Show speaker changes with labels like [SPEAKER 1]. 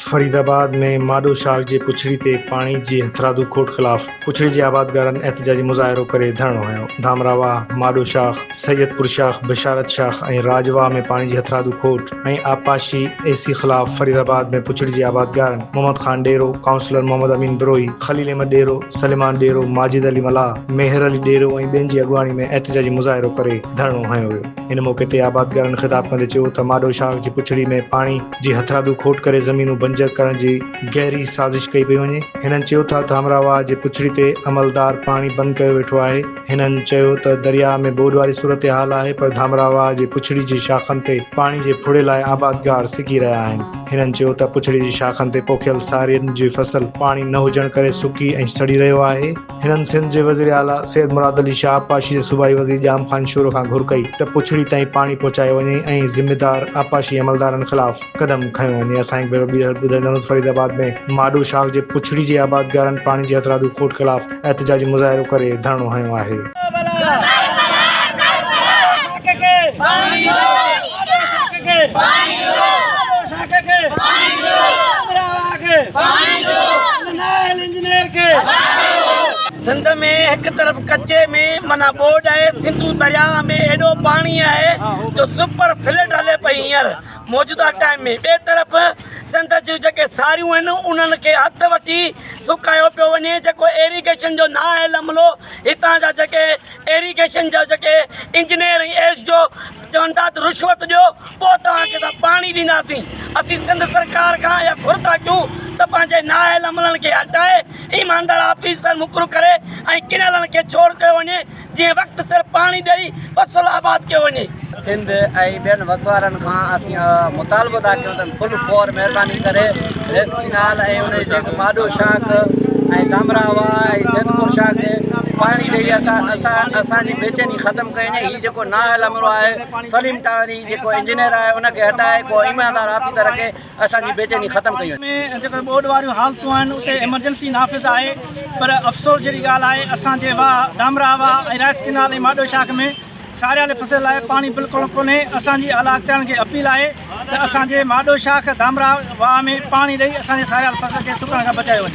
[SPEAKER 1] فريد آباد ۾ ماڏو شاخ جي پڇڙي تي پاڻي جي هٿرادو کوٽ خلاف پڇڙي جي آبادگارن احتجاجي مظاهرو ڪري ڌرڻو هنيو، ڌامراهه واهه، ماڏو شاخ، سيدپور شاخ، بشارت شاخ ۽ راڄ واهه ۾ پاڻي جي هٿرادو کوٽ. ۽ آبپاشي اي سي خلاف فريد آباد ۾ پڇڙي جي آبادگارن محمد خان ڏيرو، ڪائونسلر محمد امين بروهي، خليل احمد ڏيرو، سليمان ڏيرو، ماجد علي ملاح، ميهر علي ڏيرو ۽ ٻين جي اڳواڻي ۾ احتجاجي مظاهرو ڪري ڌرڻو هنيو ويو. ان موقعي تي آبادگارن خطاب ڪندي چيو ته ماڏو شاخ جي پڇڙي ۾ پاڻي جي هٿرادو کوٽ ڪري زمينون بنجر ڪرڻ جي گهري سازش ڪئي پئي وڃي. هنن چيو ته ته همراهه واهه جي پڇڙي تي عملدار پاڻي بند ڪيو ويٺو آهي. هنن چيو ته درياهه ۾ ٻوڏ واري صورتحال آهي پر ڌامراهه واهه جي پڇڙي جي شاخن تي پاڻي جي ڦڙي لاء آبادگار سڪي رهيا آهن. هنن چيو ته پڇڙي جي شاخن تي پوکيل سارين جي فصل پاڻي نه هجڻ ڪري سڪي ۽ سڙي رهيو آهي. هنن سنڌ جي وزير اعليٰ سيد مراد علي شاهه آبپاشي جي صوبائي وزير ڄام خان شورو کان گهر ڪئي ته پڇڙي تائين پاڻي پهچايو وڃي ۽ ذميدار آبپاشي عملدارن خلاف قدم کنيو وڃي. اسان هڪ ڀيرو ٻيهر ٻڌندؤ ته فريد آباد ۾ ماڏو شاخ جي پڇڙي جي آبادگارن پاڻي جي هٿرادو کوٽ خلاف احتجاجي مظاهرو ڪري ڌرڻو هنيو آهي.
[SPEAKER 2] سنڌ ۾ هڪ طرف ڪچي ۾ معنيٰ ٻوڏ آهي، سنڌو درياهه ۾ ايڏو پاڻي آهي جو سپر فلڊ هلي پئي هينئر. موجوده ٽائيم ۾ ٻئي طرف سنڌ جون جيڪي ساريون آهن انهن کي هٿ وٺي سڪايو پيو وڃي جيڪو ايريگيشن جو نااهل عملو هتان جا جيڪي ايريگيشن جا جيڪي انجنيئر ۽ ايس جو چون ٿا ته رشوت ڏيو پوء توهان کي اسان پاڻي ڏينداسين اسين سنڌ سرڪار کان اها گهر ٿا ڪيون ته پنهنجي نااهل عملن کي هٽائي ايماندار آفيسر مقرر ڪري ۽ ڪينالن کي ڇوڙ ڪيو وڃي جنهن وقت سر پاڻي ڏئي فصل آباد ڪيو وڃي. سنڌ ۽
[SPEAKER 3] ٻين وسوارن کان اسين مطالبو ٿا ڪيون ته فل فور مهرباني ڪري ريس ڪينال ۽ انهي جي ماڏو شاخ ۽ ڪامرا واهه ۽ سيدپور شاهه کي پاڻي ڏئي اسان اسان جي بيچيني ختم ڪئي وڃي هي جيڪو نااهل عملو آهي سليم ٽاهري جيڪو انجنيئر آهي ان کي هٽائي ڪو ايماندار آفيسر رکي. اسان جي بيچيني ختم ڪئي وڃي. ۾ جيڪي ٻوڏ واريون حالتون
[SPEAKER 4] آهن اتي ايمرجنسي نافذ آهي پر افسوس جهڙي ڳالهه آهي اسان جي واهه دامراهه واهه ۽ رائس ڪينال ۽ ماڏو شاخ ۾ ساريالي فصل لاء پاڻي بلڪل ڪونهي اسان جي اعليٰ اختيارن کي اپيل آهي ته اسان جي ماڏو شاخ دامراهه واهه ۾ پاڻي ڏئي اسان جي ساريال فصل کي سڪڻ کان بچايو وڃي.